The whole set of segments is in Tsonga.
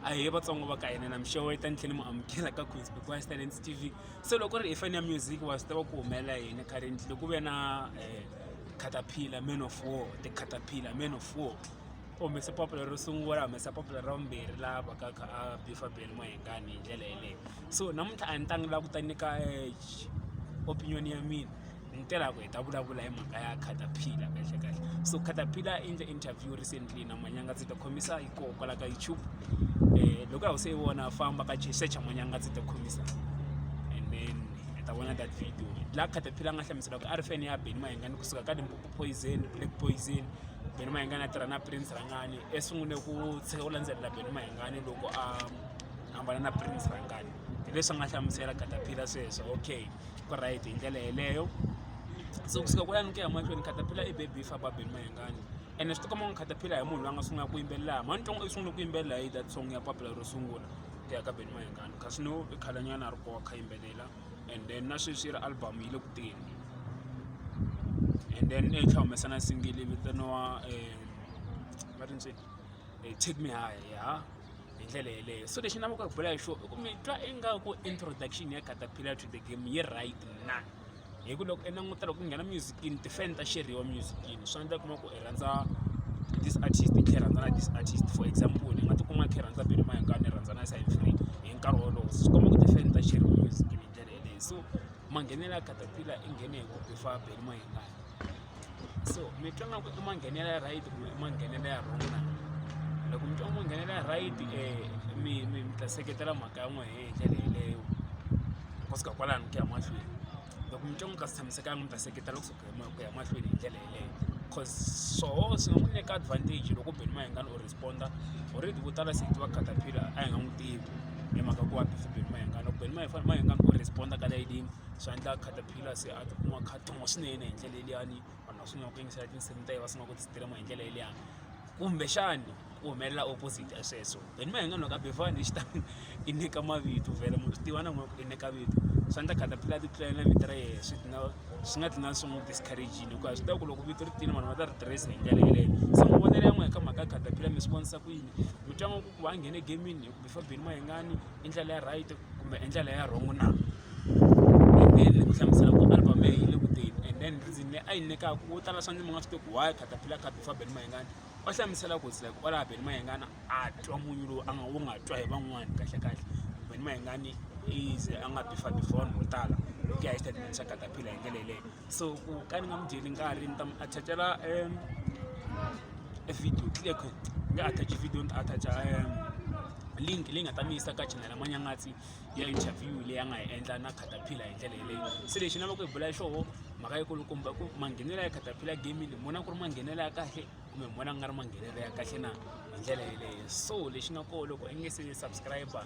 ahee vatsongo va ka hina na mixevo yi ta ni tlhela ni mu amukela ka queens because talents t v se loko ri hi fani ya music wa swi tiva ku humelela yini currently loko ve na eh, caterpillar man of war the caterpillar man of war u humese popular ro sungula humesa popular ra vumbirhi laha vaka kha a bifa beli mahengani hi ndlela yeleyo so namuntlha a ni tangi laha ku ta nyika eh, opinion ya mina ni tela ku hi ta vulavula hi mhaka ya caterpillar kahle kahle so caterpillar i endle interview recently na manyanga ndzi ta khomisa hi koho kwala ka youtube um loko a wu se yi vona famba ka secha manyanga ndzi ta khomisa and then hi ta vona that video laha caterpillar a nga hlamusela ku a ri fene ya beni mayengani kusuka ka limpopo poison black poison beni mayengani a tirha na prince rangani esungule ku tshika ku landzelela beni mayengani loko a hambana na prince rangani leswi nga hlamusela katapila sweswo okay ku right hi ndlela yeleyo se kusuka ku yanike emahlweni khatapila i baby fa babeli mayengani ene swi tikoma n'wi khatapila hi munhu loyi a nga sungula ku yimbelela mhani ntongo i sungule ku yimbelela hi that song ya papila ro sungula ku ya ka beni mayengani kasi no i khalanyana a ri kowa kha yimbelela and then na sweswi yi ri album yi le ku teni and then i tlha humesa na singili vitaniwa um va ri ntseni um take me high ya hi ndlela yeleyo so lexi navaka ku bula hi xo i ku mi twa ingaku introduction ya caterpillar to the game yi right na hi ku loko i languta loko ku nghena musicini tifan ta xeriwa musicini swi endla kuma ku i rhandza this artist i khe rhandza na this artist for example i nga tikuma i khe rhandza bini mahinkani ni rhandza na side free hi nkarhi wolowo swi komba ku tifan ta xeriwa musicini hi ndlela yeleyo so manghenela caterpillar i nghene hi ku bifa bini mahinkani so mi twa nga ku i manghenela ya right kumbe i manghenela ya wrong na loko mi twa i manghenela ya right um mi mi mi ta seketela mhaka ya n'we hi ndlela yeleyo ku suka kwalano ku ya mahlweni loko mi twa n'wi ka swi tshamisekanga mi ta seketela ku suka ku ya mahlweni hi ndlela yeleyo cause swoho swi nga n'wi nyika advantage loko beni mahingani u responda already vo tala se tiva catapillar a hi nga n'wi tivi hi mhaka ku wa bifi beni mahingani loko beni mahingani u responda ka layidini swi endla catapillar kila se a tikuma kha tuma swinene hi ndlela yeliyani vanhu va sungula ku yingisela tinsimu ta ye va sungula ku tistrema hi ndlela yeliyani kumbexani ku humelela opposite ya sweswo then ma hi nga nwaka befani hi xitani i nyika mavito vhele munhu swi tiva na n'we ku i nyika vito swa ndla khatapila ti tlulela na vito ra yehe swi tina swi nga tina swi n'wi discouragini hikuva swi tiva ku loko vito ri tini vanhu va ta ri tirhisa hi ndlela yeleyo se n'wi vonele ya n'we hi ka mhaka ya khatapila mi swi vonisa ku yini mi twa nga ku ku va a nghene gamini hi ku before beni ma hi ngani i ndlela ya right kumbe i ndlela ya wrong na ni ku hlamusela ku album leyi yi le ku teni and then reason leyi a yi nyikaka wo tala swa ndzi mi nga swi tivi why caterpillar khabe fa beni mayengani va hlamusela ku like kwalaha beni mayengana a twa munyu lowu a nga wu nga twa hi van'wani kahlekahle beni mayengani is a nga bifa before mo tala ku ya hi statement xa caterpillar hi ndlela yeleyo so ku ka ni nga mu dyeli nkarhi ni ta mu attachela um e video clear ku ni nga attach video ni ta attacha um link leyi nga ta mi yisa ka chanela manyangatsi ya interview leyi a nga yi endla na caterpillar hi ndlela yeleyo se lexi ni lavaku hi bula hi xoho mhaka yi kulukumba ku manghenelo ya caterpillar gaming ni vona ku ri manghenelo ya kahle kumbe ni vona ku nga ri manghenelo ya kahle na hi ndlela yeleyo so lexi nga koho loko i nge se subscriber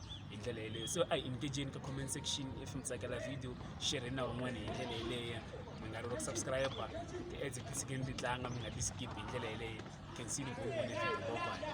hi ndlela yeleyo so a hi engageni ka comment section if mi tsakela video shere na van'wana hi ndlela yeleyo mi nga rivali ku subscribe ti-ads ti tshikeni ti tlanga mi nga ti skip hi ndlela yeleyo can see ni go vona video bye